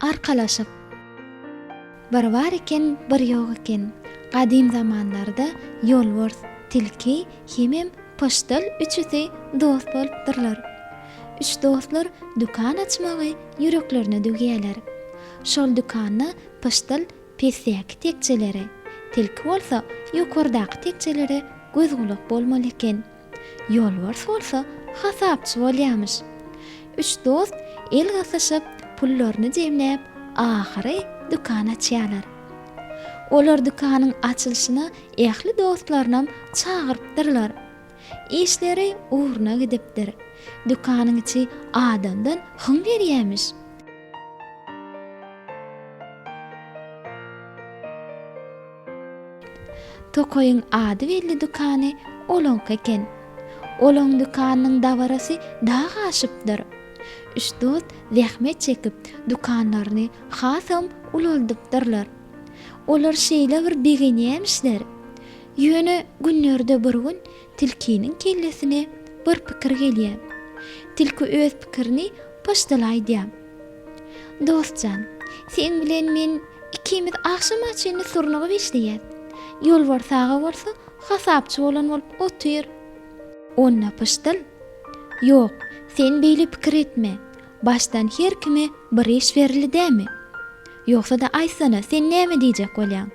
Arkalaşyk. Bir bar eken, bir ýok eken. Gadym zamanlarda ýolbars, tilki hemem pyşdyl üçüsi dost bolupdyrlar. Üç dostlar dükan açmagy ýüreklerine düwýärler. Şol dükanda pyşdyl Pesdäki tekjelere, tilki bolsa ýokardaky tekjelere göz-gulak bolmaly eken. Ýolbars bolsa hasapçy bolýamyş. Üç dost el gysyşyp, pullaryny jemläp, ahyry dükan açýarlar. Olar dükanyň açylyşyna ähli dostlarynam çagyrypdyrlar. Işleri ugruna gidipdir. Dükanyň içi adamdan hyň berýämiş. Tokaýyň ady belli dükany olaňky eken. Olaň dükanynyň dabarasy dag aşypdyr. Üç dost zähmet çekip, dükanlaryny hasam ulaldypdyrlar. Olar şeýle bir begenýämişler. Ýöne günlerde bir gün tilkiniň kellesine bir pikir gelýär. Tilki öz pikirini poçtala aýdýar. Dost jan, seň bilen men ikimiz agşama çenli surnugyp işleýäs. Ýolbars aga bolsa hasapçy bolan bolup otyr. Onda pyşdyl, Ýok, sen beýle pikir etme. Başdan her kime bir iş berildi dämi? Ýogsa-da aýtsana, sen näme diýjek bolýaň?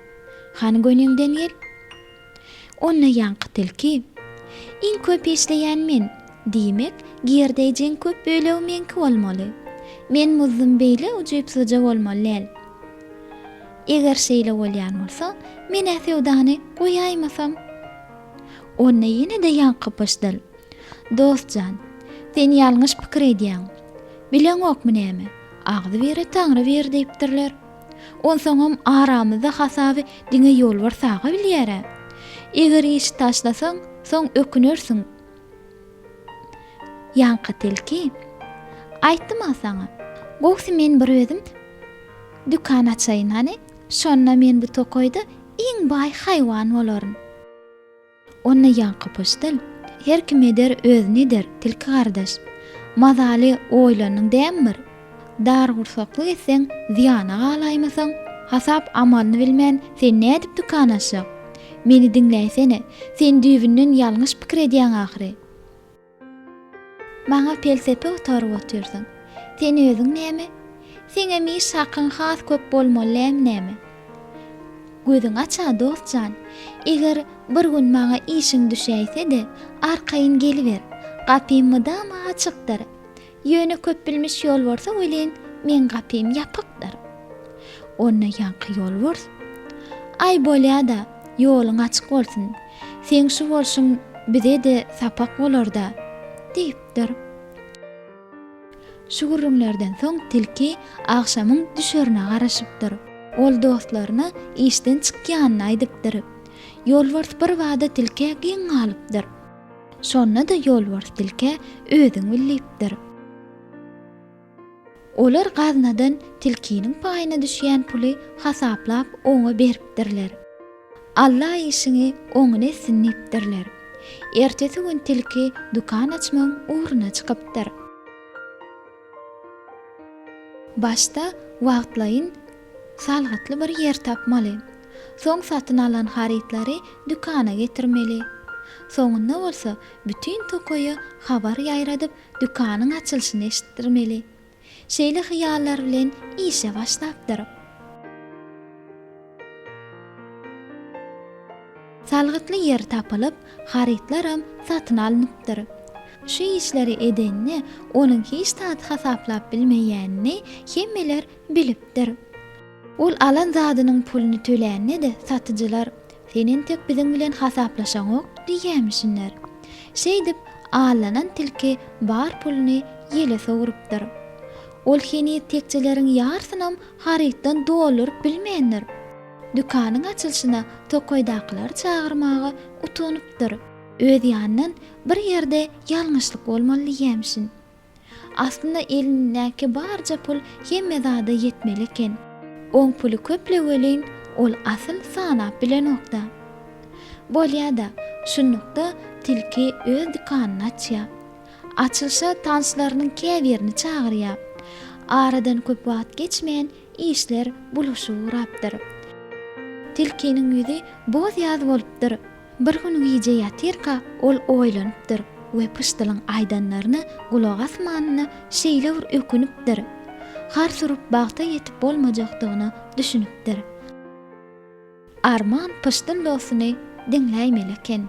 Hany göniňden gel. Onda ýaňky tilki, Iň köp işleýän men. Diýmek, girdeýjiň köp bölegi meňki bolmaly. Men muzdum beýle ujypsyzja bolmaly däl. Eger şeýle bolýan bolsa, men-ä söwdany goýaýmasam? Onda ýene-de ýaňky pyşdyl, Dost jan, sen ýalňyş pikir edýäň. Bileňokmy näme, Agzybire Taňry bir diýipdirler. Onsoňam aramyzda hasaby diňe Ýolbars aga bilýär-ä. Eger işi taşlasaň, soň ökünersiň. Ýaňky tilki, Aýtdym-a saňa. Gowusy men bir özüm dükan açaýyn hany, şonda men bu tokaýda iň baý haýwan bolaryn. Onda ýaňky pyşdyl, Her kim eder, özüni eder, tilki gardaş. Mazaly oýlandyň dämi bir? Dargursaklyk etseň, zyýana galaýmasaň? Hasap amalyny bilmän, sen nädip dükan açjak? Meni diňläýsene, sen düýbünden ýalňyş pikir edýäň ahyry. Maňa pelsepe gutaryp otyrsyň. Sen özüň näme? Seňem iş hakyň has köp bolmaly lem näme? Gözüň aç-a, dost jan. Eger bir gün maňa işiň düşäýse-de, arkaýyn geliber. Gapym mydama açykdyr. Ýöne köpbilmiş ýolborsa welin, meň gapym ýapykdyr. Onda ýaňky ýolbors, Aý bolýa-da, ýoluň açyk bolsun, seň şu bolşuň bize-de sapak bolar-da, diýipdir. Şu gürrüňlerden soň tilki agşamyň düşerine garaşypdyr. Ol dostlaryna işden çykýanyny aýdypdyr. Ýolbors birbada tilkä geň galypdyr. Şonda-da ýolbars tilkä özüň bil diýipdir. Olar gaznadan tilkiniň paýyna düşýän puly hasaplap oňa beripdirler. Alla işiňi oňyn etsin diýipdirler. Ertesi gün tilki dükan açmagyň ugruna çykypdyr. Başda wagtlaýyn salgytly bir ýer tapmaly. Soň satyn alan harytlary dükana getirmeli. Soňunda bolsa bütin tokaýa habar ýaýradyp dükanyň açylyşyny eşitdirmeli. Şeýle hyýallar bilen işe başlapdyr. Salgytly ýer tapylyp, harytlaram satyn alnypdyr. Şu işleri edenini onuň hiç zat hasaplap bilmeýänini hemmeler bilipdir. Ol alan zadynyň puluny tölände-de satyjylar, Sen entek biziň bilen hasaplaşaňok diýýämişinler. Şeýdip, allanan tilki bar puluny ýele sowrupdyr. Ol heniz tekjeleriň ýarysynam harytdan dolduryp bilmändir. Dükanyň açylyşyna tokaýdakylary çagyrmaga utanypdyr. Öz ýanyndan Bir ýerde ýalňyşlyk bolmaly diýýämişin. Aslynda elindäki barja pul hemme zada ýetmeli eken. Oň puly köpleg welin, ol asyl sanap bilenok-da. Bolýa-da, şunlukda tilki öz dükanyny açýar. Açylyşa tanslarynyň käbirini çagyrýar. Aradan köp wagt geçmän, işler bulaşyga urapdyr. Tilkiniň ýüzi boz-ýaz bolupdyr. Bir gün gije ýatyrka, ol oýlanypdyr we pyşdylyň aýdanlaryna gulak asmanyna şeýle bir ökünipdir. Har surup bagta ýetip bolmajakdygyna düşünipdir. Arman pyşdyl dostuny diňläýmeli eken.